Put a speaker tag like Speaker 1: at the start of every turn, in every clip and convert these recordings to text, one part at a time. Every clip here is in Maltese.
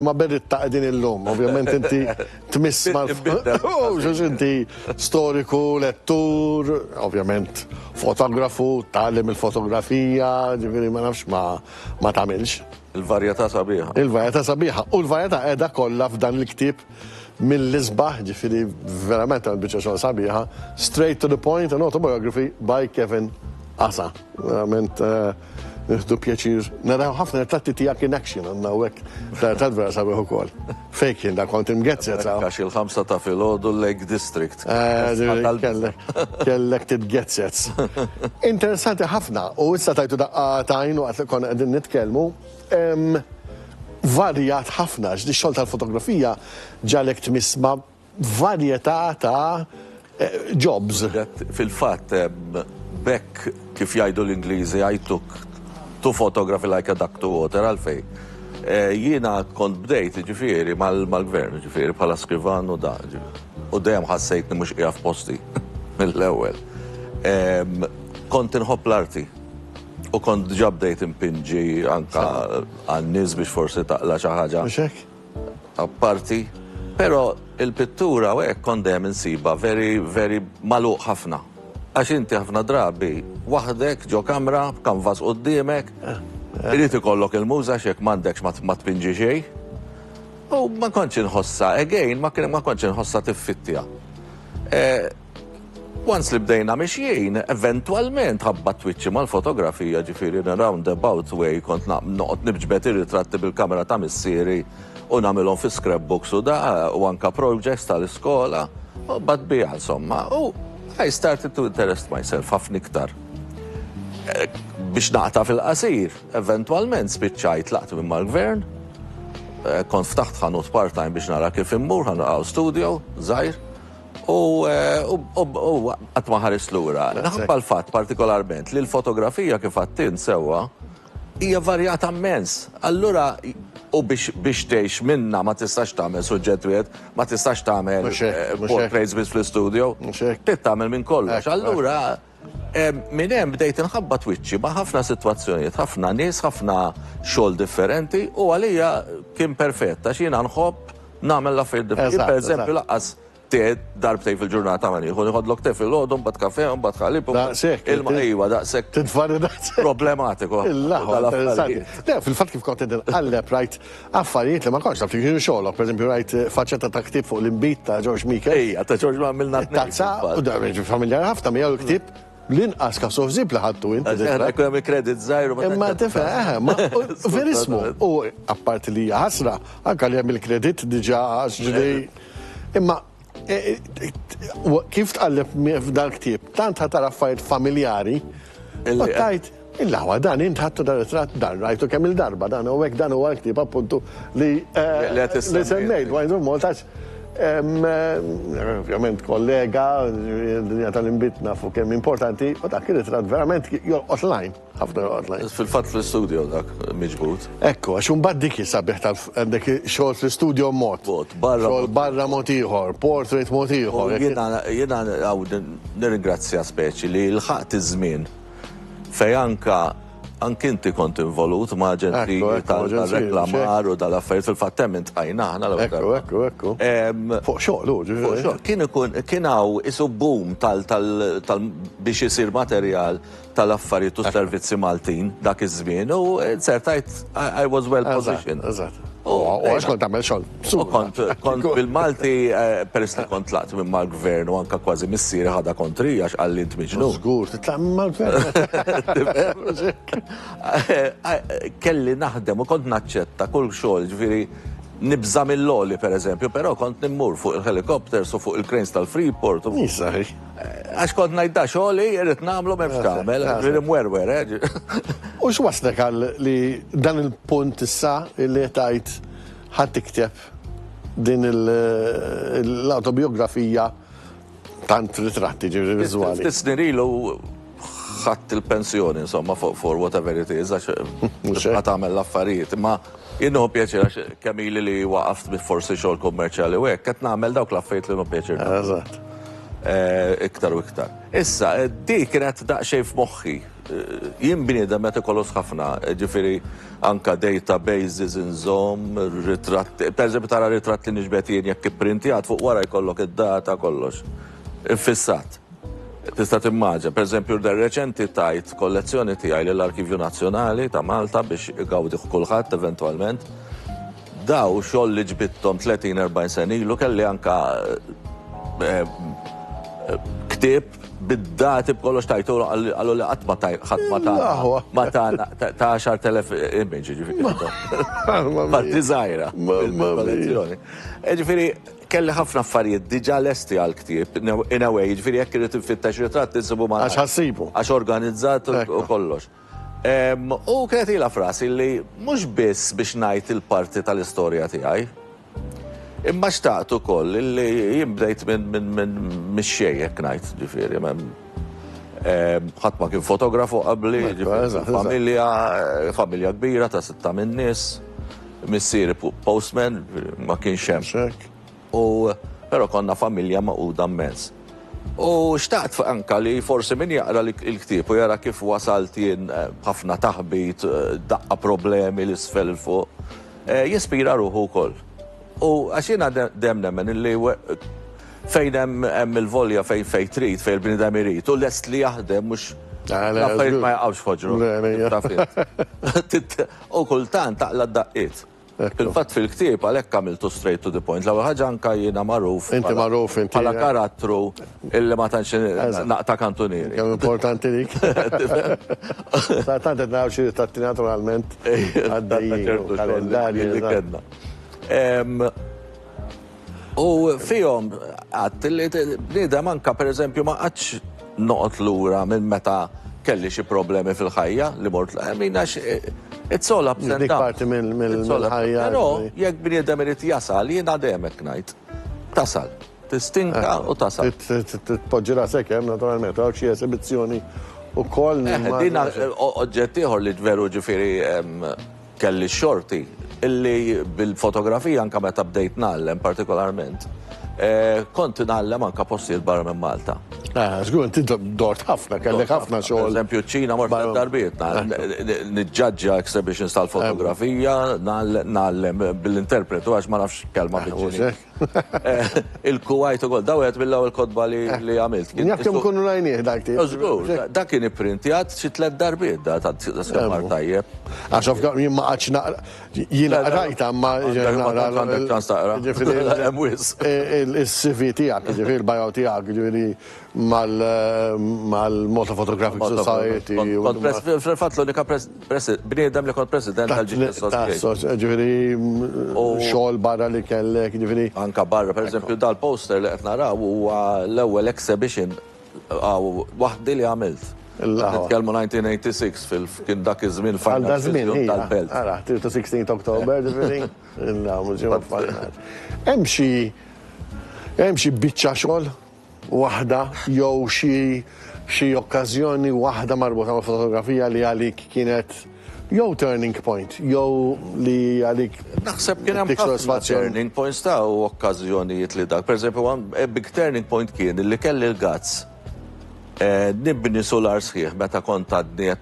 Speaker 1: Ma Beritta qegħdin illum, ovvjament inti tmiss mal għax inti storiku, lettur, ovvjament fotografu, tgħallem il-fotografija, ġifieri ma nafx ma ma tagħmilx. Il-varjetà sabiħa.
Speaker 2: Il-varjetà sabiħa u
Speaker 1: l-varjetà qiegħda kollha f'dan il-ktieb mill-isbaħ, ġifieri verament għal biċċa xogħol sabiħa, straight to the point, an autobiography by Kevin Asa. Verament eh, Nieħdu pjaċir naraw ħafna ritratti tiegħek in action għandna hawnhekk ta' vera sabiħ ukoll. Fejn kien dak kont imgezzet sa. Għax il-ħamsa ta'
Speaker 2: filgħodu Lake District.
Speaker 1: Kellek titgezzet. Interessanti ħafna u issa tajtu daqqa tajn waqt li konna qegħdin nitkellmu. Varjat ħafna x'di xogħol tal-fotografija ġalek tmissma varjetà ta' jobs. Fil-fatt,
Speaker 2: b'hekk, kif jgħidu l-Ingliżi, I took two photography like a duck to water. Għalfejn? Jiena kont bdejt, jiġifieri, mal-Gvern, jiġifieri, bħala Skrivan u da, u dejjem ħassejtni mhux qiegħed f'posti mill-ewwel. Kont inħobb l-arti u kont diġà bdejt inpinġi anke għan-nies biex forsi taqla' xi ħaġa. Mhux hekk?
Speaker 1: apparti,
Speaker 2: pero il-pittura u hekk kont dejjem insibha very, very magħluq ħafna. Għax inti ħafna drabi waħdek ġo kamra b'kanvas quddiemek, irid ikollok il-muża għax jekk m'għandekx ma tpinġi xejn. U ma kontx inħossha, again, ma kontx inħossha tiffittiha. Once li bdejna mixjin, eventwalment ħabbat twiċċi mal-fotografija ġifieri in a roundabout way kont noqgħod nibġbed ir-ritratti bil-kamera ta' missieri u nagħmilhom fi scrapbooks u da u anka projects tal-iskola u bad biha insomma u I started to interest myself ħafna iktar. Eh, biex naqta fil-qasir, eventualment spiċċajt laqt minn mal-gvern, eh, kont ftaħt ħanut part-time biex nara kif immur, ħanqaw studio, zaħir, U qatt ma ħares lura. Nħabba l-fatt partikolarment li l-fotografija kif għattint sewwa hija varjata mmens. Allura u biex biex tgħix minna ma tistax tagħmel suġġett wieħed, ma tistax tagħmel portraits biss fl-istudio. Trid tagħmel minn kollox. Allura Minn hemm bdejt inħabbat wiċċi ma' ħafna sitwazzjonijiet, ħafna nies, ħafna xogħol differenti u għalija kien perfett għax jiena nħobb nagħmel l-affarijiet differenti. Per eżempju, laqqas te darbtej fil-ġurnata ma nieħu nieħodlok te fil-ħodu, mbagħad kafe, mbagħad ħalib, ilma ejwa daqshekk. Tinfarri daqshekk.
Speaker 1: Problematiku. Fil-fatt kif kont qed inqalleb rajt Affarijiet li ma kontx taf li kienu xogħlok, pereżempju rajt faċċetta ta' ktieb fuq l-inbid ta' George Meeker. Ejja, ta' George ma għamilna tnejn.
Speaker 2: Tazza, u da jiġri
Speaker 1: familjari ħafna miegħu l-ktieb l-inqas kafsu ħsieb li ħadtu int. Ġara jkun hemm il-credit
Speaker 2: żgħir u ma tantx. Imma tifhem, eħe, ma
Speaker 1: verismu. U apparti li hija ħasra, anke li hemm il-credit diġà għax ġri. Imma E, e, e, kif tqalleb f'dan ktieb, tant ħatar affarijiet familjari, u tajt, il-lawa dan int ħattu dan it-trat dan rajtu kemm il-darba dan u hekk dan huwa l-ktieb appuntu li li semmejt wajdu Maltax. Ovvjament kollega, dinja tal-imbitna fuq kemm importanti, u dak il-trat verament jolqot lajn. Ħafna joqgħodna. Fil-fatt fl-istudio dak
Speaker 2: miġbud. Ekku, għax imbagħad
Speaker 1: dik sabiħ tal għandek xogħol fl-istudio mod. Barra. Xogħol barra mod ieħor, portrait mod ieħor. Jiena
Speaker 2: għaw nirringrazzja speċi li l-ħaqt iż-żmien fej anka anki inti kont involut ma' ġenti tal-reklamar u dal-affarijiet fil-fatt hemm intqajna aħna l Ekku, ekku, ekku.
Speaker 1: Fuq xogħol, ġifieri. Kien ikun kien hawn
Speaker 2: isu boom tal biex isir materjal tal-Affarijiet u s-Servizzi Maltin dak iż-żmien u ser tgħid I was well positioned. Eżatt. U għax
Speaker 1: kont tagħmel xogħol. Kont kont bil-Malti
Speaker 2: eh, peress li kont tlaqt minn mal-gvern u anka kważi missieri ħadha kontri għax qal li tmiġnu. Żgur, titlaq minn mal-gvern. Kelli naħdem u kont naċċetta kull xogħol ġifieri nibża mill-loli per eżempju, però kont nimmur fuq il-helikopters u fuq il-cranes tal-Freeport. Nisaħi. Għax kont ngħid da xogħli irrid nagħmlu m'hemm x'tagħmel, ġifieri mwerwer, eh? U
Speaker 1: x'waslek għal li dan il-punt issa li tajt ħadd tikteb din l-autobiografija tant ritratti ġifieri viżwali. Ftit snin ilu
Speaker 2: ħadt il-pensjoni, insomma, for, for whatever it is, għax mhux qed tagħmel l-affarijiet. Imma jien nieħu pjaċir għax kemm ili li waqaft bi forsi xogħol kummerċjali u hekk qed nagħmel dawk l-affarijiet li nieħu pjaċir. Eżatt. Eh, iktar u iktar. Issa, eh, di kienet daqsxejn f'moħħi. Eh, jien bniedem meta kolos ħafna, ġifieri anka databases inżomm, ritratt, pereżempju tara ritratt li niġbed jien jekk ipprinti għad fuq wara jkollok id-data kollox. Infissat. Tista' timmaġina, pereżempju, li reċenti tajt kollezzjoni tiegħi lill-Arkivju Nazzjonali ta' Malta biex igawdih kulħadd eventwalment. Daw xogħol li ġbidthom 30, 40 sena ilu kelli anke ktieb bid-dati b'kollox tajtu qalu li qatt ma tajt ħadd ma ta ma ta ta 10,000 image ġifieri. Parti żgħira. Kollezzjoni. Ġifieri Kelli ħafna affarijiet diġà lesti għall-ktieb, in a way, jiġifieri jekk irrid infittex ritratt insibhu malajr. Għax ħassibu. Għax
Speaker 1: organizzat
Speaker 2: u kollox. U kienet ilha f'rasi li mhux biss biex ngħid il-parti tal-istorja tiegħi, imma xtaqt ukoll li jien bdejt mix-xejn hekk ngħid, jiġifieri ħadd ma kien fotografu qabli, familja kbira ta' sitta minn nies. Missieri postman, ma kienx hemm hekk. U però konna familja magħquda mmens. U xtaqt anke li forsi min jaqra l-ktieb u jara kif wasalt jien b'ħafna taħbit, daqqa problemi 'l isfel 'il fuq, jispira ruħu wkoll. U għax jiena dejjem nemmen illi fejn hemm hemm il-volja fejn fejn trid, fejn il-bniedem irid u lest li jaħdem mhux l-affarijiet ma jaqgħux f'ħoġru. Taf int. U kultant taqla' d-daqqiet. Fil-fatt fil-ktieb għalhekk għamiltu straight to the point. L-ewwel ħaġa anke jiena magħruf bħala karattru illi ma tantx naqta' kantunieri. Kemm importanti dik.
Speaker 1: Tant qed naraw xi ritratti naturalment għaddejjin. Kalendarji li kellna. U fihom għadt li bniedem anke pereżempju ma qatx noqgħod lura minn meta kelli xi problemi fil-ħajja li mort l-qemin għax eh, it's all ups and downs. mill-ħajja. Però jekk
Speaker 2: bniedem irid jasal, jien għademek ngħid. Tasal. Tistinka eh, u tasal. Tpoġġi rasek
Speaker 1: hemm eh, naturalment għaw xi esibizzjoni u koll. Dina
Speaker 2: oġġett ieħor li veru ġifieri Kelli x-xorti illi bil-fotografija anke meta bdejt ngħallem partikolarment, kont ingħallem anke postijiet barra minn Malta. Ah, żgur, int intom
Speaker 1: dort ħafna, kellek ħafna xogħol. Pereżempju ċ-Ċina mort tliet
Speaker 2: darbiet, niġġaġġa exhibitions tal-fotografija, ngħallem bil-interpretu għax ma nafx kelma bil-Ċiniż. Il-Kuwait ukoll, daw wieħed mill-ewwel kotba li eh. għamilt. Jaf kemm kunu rajnieh
Speaker 1: dak tip. Żgur, dak kien
Speaker 2: ipprintjat xi tliet darbiet da ta' skapar tajjeb. Għax of jien ma
Speaker 1: qatx naqra jiena qrajta ma naqra. Ġifieri hemm wis. Eh, Is-CV tiegħek, ġifieri il-bajaw tiegħek, ġifieri mal-Malta Photographic Society. Fil-fatt
Speaker 2: l-unika bniedem li kont president tal-Ġid Association. Ġifieri
Speaker 1: xogħol barra li kellek, ġifieri. Anke barra, pereżempju
Speaker 2: dal-poster li qed naraw huwa l-ewwel exhibition waħdi li għamilt. Nitkellmu 1986 kien dak iż-żmien f'Għal żmien
Speaker 1: tal-Belt. Ara, 16 October ġifieri. Hemm xi biċċa xogħol waħda jew xi xi okkażjoni waħda marbuta mal-fotografija li għalik kienet jew turning point jew li għalik Naħseb kien hemm
Speaker 2: ħafna turning points ta' u okkażjonijiet li dak. Pereżempju, eh, big turning point kien li kelli l-gazz eh, nibni sular sħiħ meta kont għadni eh,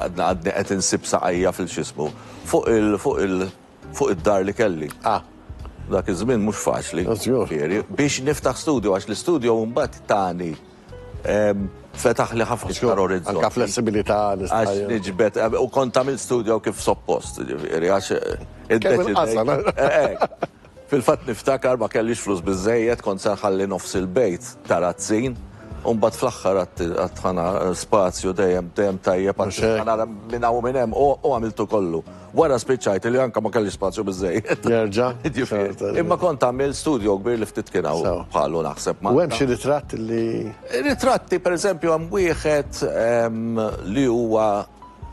Speaker 2: għadni qed insib saqajja fil-xismu fuq il fuq il fuq id-dar li kelli. Ah. Dak iż-żmien mhux faċli. Ah, żgur. Ġifieri, biex niftaħ studio, għax l-istudio mbagħad tani ehm, fetaħ li ħafna iktar orizzonti. Anka flessibilità
Speaker 1: nista' Għax niġbed,
Speaker 2: eh, u kont tagħmel studio kif suppost, ġifieri, għax eh, Kemm il-qasal, id-deċidejt. eh? Eh, eh. Fil-fatt niftakar ma kellix flus biżejjed, kont se nħalli nofs il-bejt tarazzin, u mbagħad fl-aħħar għad- għadħana spazju dejjem dejjem tajjeb Mhux hekk. għadħana minn hawn u minn hemm, u u għamiltu kollu. Wara spiċċajt li anke ma kellix spazju biżżejjed. Nerġa'.
Speaker 1: Imma kont tagħmel
Speaker 2: studjo kbir li ftit kien hawn bħalu naħseb Malta. U hemm xi ritratt
Speaker 1: li. Ritratti
Speaker 2: pereżempju hemm wieħed li huwa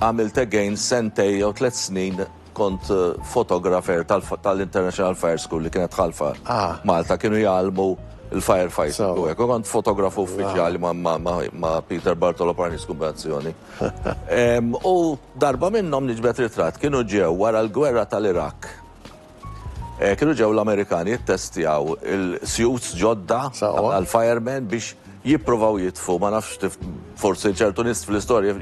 Speaker 2: għamilt again sentej jew tliet snin kont fotografer tal-International Fire School li kienet ħalfa Malta kienu jgħallmu l-firefighting. Kont fotografu uffiċjali ma' Peter Bartolo Parnis Kumbazzjoni. U darba minnhom niġbed ritratt kienu ġew wara l-gwerra tal-Iraq. Eh, kienu ġew l-Amerikani jittestjaw il-suits ġodda għal-firemen biex jipprovaw jitfu, ma nafx forsi ċertu nis fl-istorja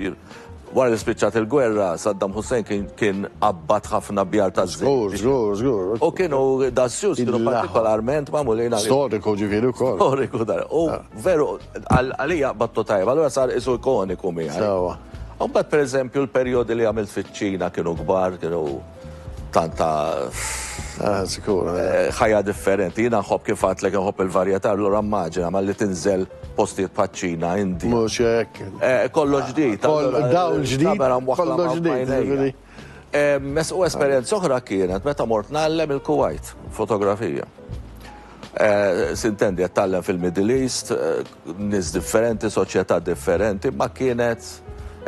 Speaker 2: wara li spiċċat il-gwerra, Saddam Hussein kien abbat ħafna bjar ta' żgur. Żgur, żgur. U kienu
Speaker 1: da'
Speaker 2: suits kienu partikolarment mamulina. Storiku ġifieri wkoll.
Speaker 1: Storiku dar. U ah.
Speaker 2: Veru, għalija qbadtu tajjeb, allura sar qisu ikoniku miegħi. Sewwa. U mbagħad
Speaker 1: pereżempju
Speaker 2: l-perjodi li għamilt fiċ-Ċina kienu kbar, kienu tant ta' Eh,
Speaker 1: sikur. eh, ħajja
Speaker 2: differenti. Jiena nħobb kif għadtlek nħobb il-varjetà, allura immaġina malli tinżel postijiet bħaċ-Ċina, Indija. Mhux hekk.
Speaker 1: Eh, kollox ġdid.
Speaker 2: Koll- allura, dawl ġdid,
Speaker 1: kamera mwaħħla kollox ma' ġdid, bajnejja. ġifieri.
Speaker 2: U esperjenza oħra kienet meta mort ngħallem il-Kuwait, fotografija. Sintendi qed tgħallem fil-Middle East, nies differenti, soċjetà differenti, ma kienet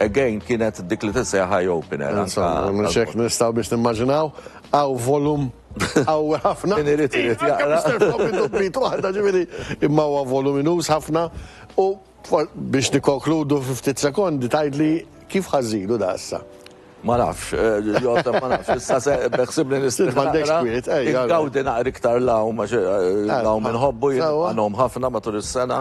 Speaker 2: again kienet dik li tissejjaħ eye opener. Insomma, minn xek
Speaker 1: nistgħu biex nimmaġinaw, hawn volum qawwi ħafna. Min irid irid jaqra.
Speaker 2: Mr. Floppy
Speaker 1: Doppy, waħda ġifieri imma huwa voluminuż ħafna u Biex nikkonkludu fi ftit sekondi tgħidli kif ħa żżidu da issa? Ma nafx,
Speaker 2: Joseph, ma nafx, issa se beħsibni nistrieħ. M'għandekx kwiet,
Speaker 1: ej. Ingawdi naqra iktar
Speaker 2: l-għawm għax l-għawm inħobbu jien nagħom ħafna matul is-sena.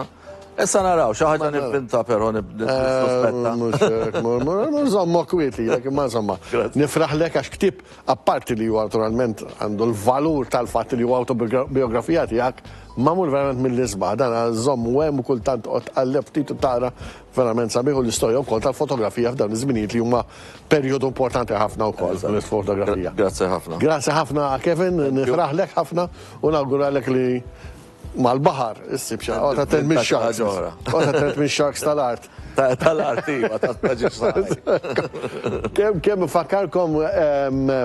Speaker 2: Issa naraw, xi ħaġa nivvinta però nissuspetta. Mhux hekk, mhux
Speaker 1: żommok kwiet lilek, imma insomma. Nifraħlek għax ktieb Apparti li huwa naturalment għandu l-valur tal-fatt li huwa awtobiografija tiegħek, magħmul verament mill-isbaħ. Dan għal żomm u hemm u kultant toqgħod tqalleb ftit u tara verament sabiħ u l-istorja wkoll tal-fotografija f'dawn iż-żminijiet li huma perjodu importanti ħafna wkoll fil-fotografija. Grazzi
Speaker 2: ħafna. Grazzi ħafna
Speaker 1: Kevin, nifraħlek ħafna u nawguralek li mal-baħar issib xi ħaġa. Għota tent minn xaks. Għota tent minn xaks tal-art. Tal-art,
Speaker 2: iva, tal-paġis. Kem, kem, fakkarkom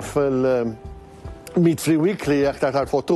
Speaker 1: fil-Meat Free Weekly, aktar tal-fottu.